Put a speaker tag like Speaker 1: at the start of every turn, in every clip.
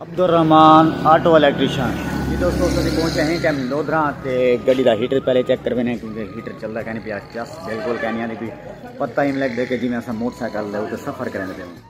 Speaker 1: Abdul Rahman auto electrician جی دوستو اس وقت پہنچے ہیں ٹائم لودھرا تے گاڑی دا ہیٹر پہلے چیک کر بینے کیونکہ ہیٹر چل رہا کہنے پیا جس بالکل کہنے آنے بھی پتہ ہی ملک دے کہ جی میں اسا موٹر سائیکل لے اوتے سفر کرنے پہ ہوں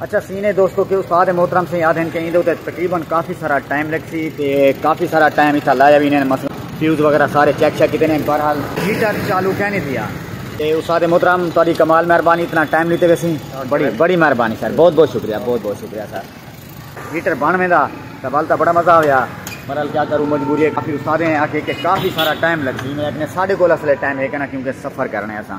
Speaker 1: اچھا سینے دوستو کہ استاد محترم سے یاد ہیں کہ اندے تے تقریبا کافی سارا ٹائم لگ سی تے کافی سارا ٹائم ایتھا لایا وی نے مثلا فیوز وغیرہ سارے چیک چیک کیتے نے بہرحال ہیٹر چالو کہیں نہیں تھیا تے استاد محترم تہاڈی کمال مہربانی اتنا ٹائم لیتے ویسی بڑی بڑی مہربانی سر بہت بہت شکریہ بہت بہت شکریہ سر ہیٹر بن ویندا تے بل بڑا مزہ آیا بہرحال کیا کروں مجبوری ہے کافی استاد ہیں آکھے کہ کافی سارا ٹائم لگ سی میں اپنے ساڈے کول اصل ٹائم ہے کنا کیونکہ سفر کرنے اساں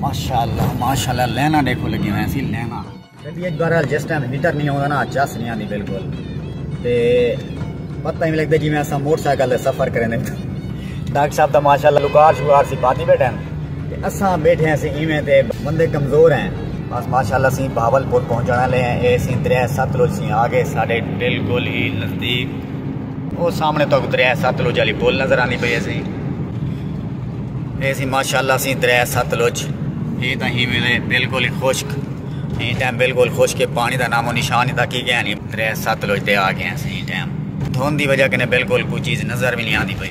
Speaker 1: ماشاءاللہ ماشاءاللہ لینا دیکھو لگی ہوئے ہیں سی لینا جب ایک بار جس ٹائم میٹر نہیں ہوتا نا چس نہیں آتی بالکل تے پتہ ہی لگتا جی میں ایسا موٹر سائیکل دے سفر کریں دے ڈاکٹر صاحب دا ماشاءاللہ لکار شکار سی پاتی بیٹھے ہیں تے اسا بیٹھے ہیں سی ایویں تے بندے کمزور ہیں بس ماشاءاللہ سی بھاول پور پہنچنا لے ہیں اے سی دریا ستلوج سی آگے ساڑے بالکل ہی نزدیک او سامنے تو دریا ستلج علی پول نظر آنی پئی سی اے سی ماشاءاللہ سی دریا ستلج ہی تا ہی ویلے بالکل ہی خشک ہی ٹائم بالکل خشک پانی دا نام و نشان ہی تا کی گیا نہیں دریا ستلج دے آ گیا سی ٹائم دھون دی وجہ کنے بالکل کوئی چیز نظر بھی نہیں آنی پئی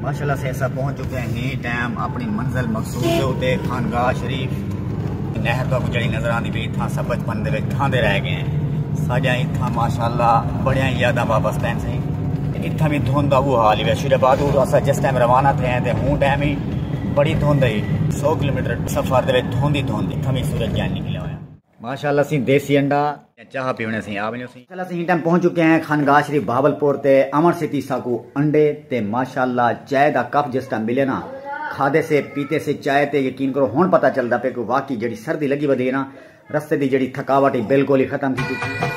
Speaker 1: ماشاءاللہ سے سب پہنچ چکے ہیں ٹائم اپنی منزل مقصود دے اتے خانگاہ شریف نہر تو جڑی نظر آندی بھی تھا سب بچپن دے وچ تھا دے رہ گئے ہیں ساجا ہی تھا ماشاءاللہ بڑیاں یاداں واپس تین سے تے اتھا بھی دھون دا وہ حال ہی ہے شیر آباد اور اسا جس ٹائم روانہ تھے ہیں تے ہوں ٹائم ہی بڑی دھون دے 100 کلومیٹر سفر دے وچ دھون دی دھون دی تھا بھی سورج جان نکلے ہوئے ماشاءاللہ اسیں دیسی انڈا یا چاہ پیونے سیں آ ونجو سیں۔ ماشاءاللہ اسیں ہی ٹائم پہنچ چکے ہیں خانگاہ شریف بہاول پور تے آون سیتی ساکو انڈے تے ماشاءاللہ چائے دا کپ جس ٹائم ملے نا کھادے سے پیتے سے چائے تے یقین کرو ہن پتہ چلدا پے کہ واقعی جیڑھی سردی لگی ودی ہے نا رستے دی جیڑھی تھکاوٹ ہی بالکل ہی ختم تھی چکی ہے۔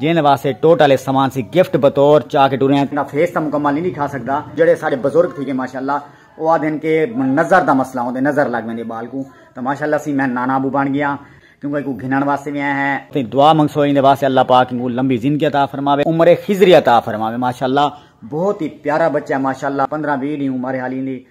Speaker 1: جیندے واسطے ٹوٹ آلے سامان سی گفٹ بطور چا کے ٹرے آں۔ دا فیس تاں مکمل نی ڈکھا سکدا۔ جیڑھے ساڈے بزرگ تھی گے ماشاءاللہ او آدھے ہن کہ نظر دا مسئلہ ہوندے نظر لگ ویندی بال کوں تاں ماشاءاللہ سی میں نانا ابو بن گیاں کیوں کہ ایکوں گھنن واسطے وی آئے ہیں۔ تیں دعا منگسو ایندے واسطے اللہ پاک اینکوں لمبی زندگی عطا فرماوے عمر خضری عطا فرماوے ماشاءاللہ بہت ہی پیارا بچہ ہے ماشاءاللہ پندرہ ویہہ ڈینہہ عمر ہے حالی ایندی۔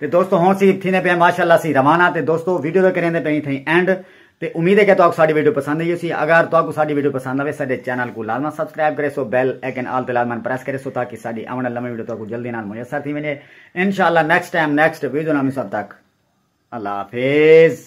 Speaker 1: تے دوستو ہون سی تھینے پئے ماشاءاللہ سی روانہ تے دوستو ویڈیو دا کریندے پئے تھیں اینڈ تے امید ہے کہ تہاکوں ساڈی ویڈیو پسند آئی ہوسی اگر تہاکوں ساڈی ویڈیو پسند آوے ساڈے چینل کوں لازما سبسکرائب کریسو بیل آئیکن آل تے لازما پریس کریسو تاکہ ساڈی آون والی نویں ویڈیو تہاکوں جلدی نال میسر تھی ونجے انشاءاللہ نیکسٹ ٹائم نیکسٹ ویڈیو نال مصب تک اللہ حافظ